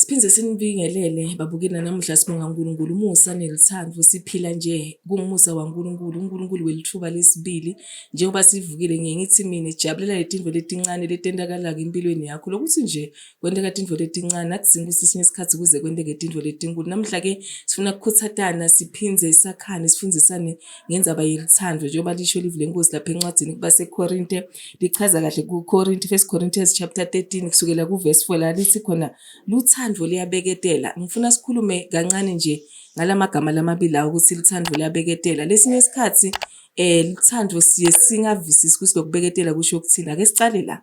Siphinde sinibingelele babukeli nanamuhla sibonga uNkulunkulu umusa nelithando siphila nje kungumusa waNkulunkulu uNkulunkulu welithuba lesibili njengoba sivukile ngiye ngithi mina jabulela letinto letincane letentakalaka empilweni yakho lokuthi nje kwenteka tinto letincane akudzingi ukuthi sinye isikhathi kuze kwenteke tinto letinkulu namuhla ke sifuna kukhutsatana siphindze sakhane sifundisane ngenzaba yelithando njengoba lisho ilivi lenkosi lapha encwadini kubasekorinte lichaza kahle kukorinte first corinthians chapter 13 kusukela kuvesi 4 la lithi khona luthando liyabeketela ngifuna sikhulume kancane nje ngala magama lamabili lawo ukuthi luthando liyabeketela lesinye isikhathi um luthando siye singavisisi ukuthi lokubeketela kusho ukuthini ake sicale la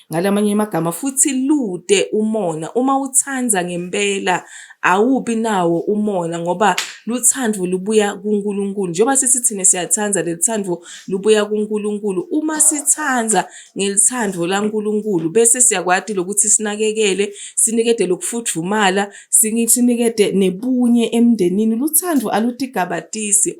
Ngalamanye amagama futhi lude umona uma uthanda ngempela awubi nawo umona ngoba luthando lubuya kuNkulunkulu njengoba sithi thina siyathanda lelithando lubuya kuNkulunkulu uma sithanda ngelithando laNkulunkulu bese siyakwati lokuthi sinakekele sinikede lokufudumala sinikede nebunye emndenini luthando alutigabatisi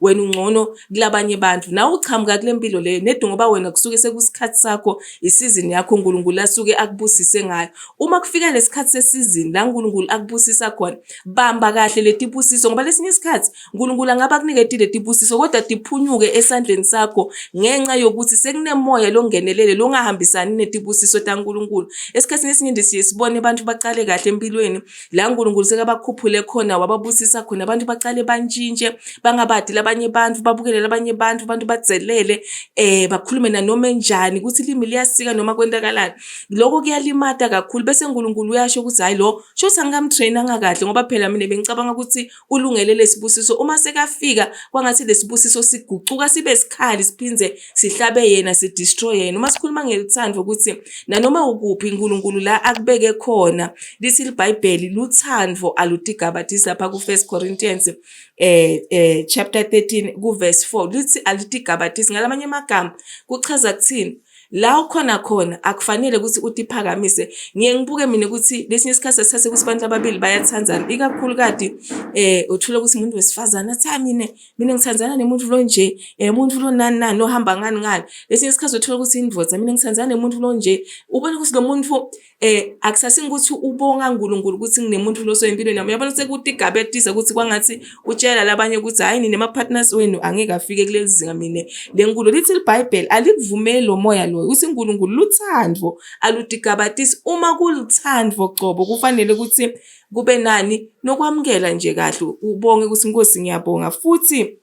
wena ungcono kulabanye abantu nawe uchamuka kule mpilo leyo nedi ngoba wena kusuke sekusikhathi sakho isizini yakho uNkulunkulu asuke akubusise ngayo uma kufika lesikhathi sesizini la uNkulunkulu akubusisa khona bamba kahle letibusiso ngoba lesinye isikhathi uNkulunkulu angaba kuniketi letibusiso kodwa tiphunyuke esandleni sakho ngenxa yokuthi sekunemoya longenelele longahambisani netibusiso taNkulunkulu esikhathini esiningi siye sibone abantu baqale kahle empilweni la uNkulunkulu sekabakhuphule khona wababusisa khona abantu baqale bantshintshe bangabadile abanye abantu babukelele abanye abantu abantu bazelele eh bakhulume nanoma enjani ukuthi ilimi liyasika noma kwenzakalani lokho kuyalimata kakhulu bese uNkulunkulu uyasho ukuthi hayi lo shothi angikamtrainanga kahle ngoba phela mina bengicabanga ukuthi ulungele lesibusiso uma sekafika kwangathi lesibusiso sigucuka sibe sikhali siphinde sihlabe yena si destroy yena uma sikhuluma ngeluthando ukuthi nanoma ukuphi uNkulunkulu la akubeke khona lithi iBhayibheli luthando alutigabathisi lapha ku 1 Corinthians eh eh chapter 13 ku verse 4 lithi alitigabathisi ngalamanye amagama kuchaza kuthini la ukhona khona akufanele ukuthi uthi phakamise ngiye ngibuke mina ukuthi lesinye isikhathi sithathe ukuthi abantu ababili bayathandana ikakhulu kade eh uthola ukuthi umuntu wesifazana cha mina mina ngithandana nemuntu lo nje eh umuntu lo nani nani ohamba ngani ngani lesinye isikhathi uthola ukuthi indoda mina ngithandana nemuntu lo nje ubona ukuthi lo muntu eh akusasini ukuthi ubonga uNkulunkulu ukuthi nginemuntu lo soyimpilweni yami uyabona sekuthi igaba etisa ukuthi kwangathi utshela labanye ukuthi hayi nine partners wenu angeke afike kuleli zinga mina lenkulu lithi iBhayibheli alikuvumeli lo moya lo uthi uNkulunkulu luthandvo aludigabatisi uma kulithandvo cobo kufanele ukuthi kube nani nokwamukela nje kahle ubonge ukuthi inkosi ngiyabonga futhi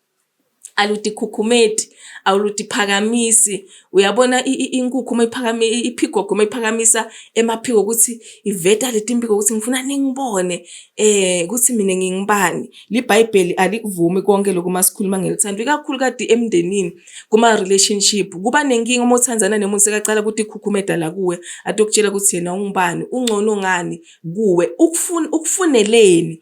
aludikhukhumeti awuludiphakamisi uyabona inkukhu uma iphakame iphigogo uma iphakamisa emaphiko ukuthi iveta leti mpiko ukuthi ngifuna ningibone eh ukuthi mina ngingibani libhayibheli alikuvumi konke lokho uma sikhuluma ngelithando ikakhulu kade emndenini kuma relationship kuba nenkinga uma uthandana nemuntu sekacala ukuthi ikhukhumeda la kuwe atokutshela ukuthi yena ungubani ungcono ngani kuwe ukufuna ukufuneleni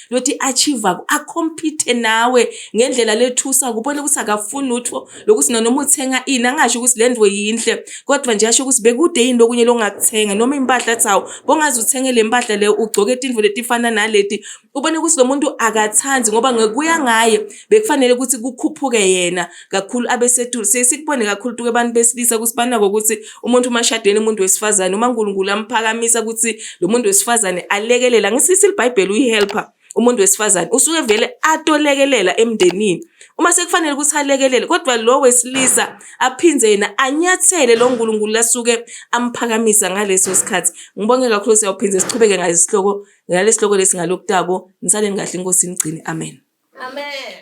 lokuthi i-achiever ku acompete nawe ngendlela lethusa kubona ukuthi akafuni lutho lokuthi noma uthenga ini angasho ukuthi le ndwo yinhle kodwa nje asho ukuthi bekude yini lokunye lokungakuthenga noma impahla athi hawu bongaze uthenge le mpahla leyo ugcoke tindvo letifana naleti ubone ukuthi lo muntu akathandi ngoba ngekuya ngaye bekufanele ukuthi kukhuphuke yena kakhulu abesetulu siye sikubone kakhulu tuke abantu besilisa ukuthi banako ukuthi umuntu uma shadene umuntu wesifazane uma uNkulunkulu amphakamisa ukuthi lo muntu wesifazane alekelela ngisisi libhayibheli uyihelper umuntu wesifazane usuke vele atolekelela emndenini uma sekufanele ukuthi alekelele kodwa lo wesilisa aphinde yena anyathele lo nkulunkulu lasuke amphakamisa ngaleso sikhathi ngibonge kakhulu siyawuphinde siqhubeke ngalesihloko ngalesihloko lesi ngalokutako nisaleni kahle inkosi inigcine amen amen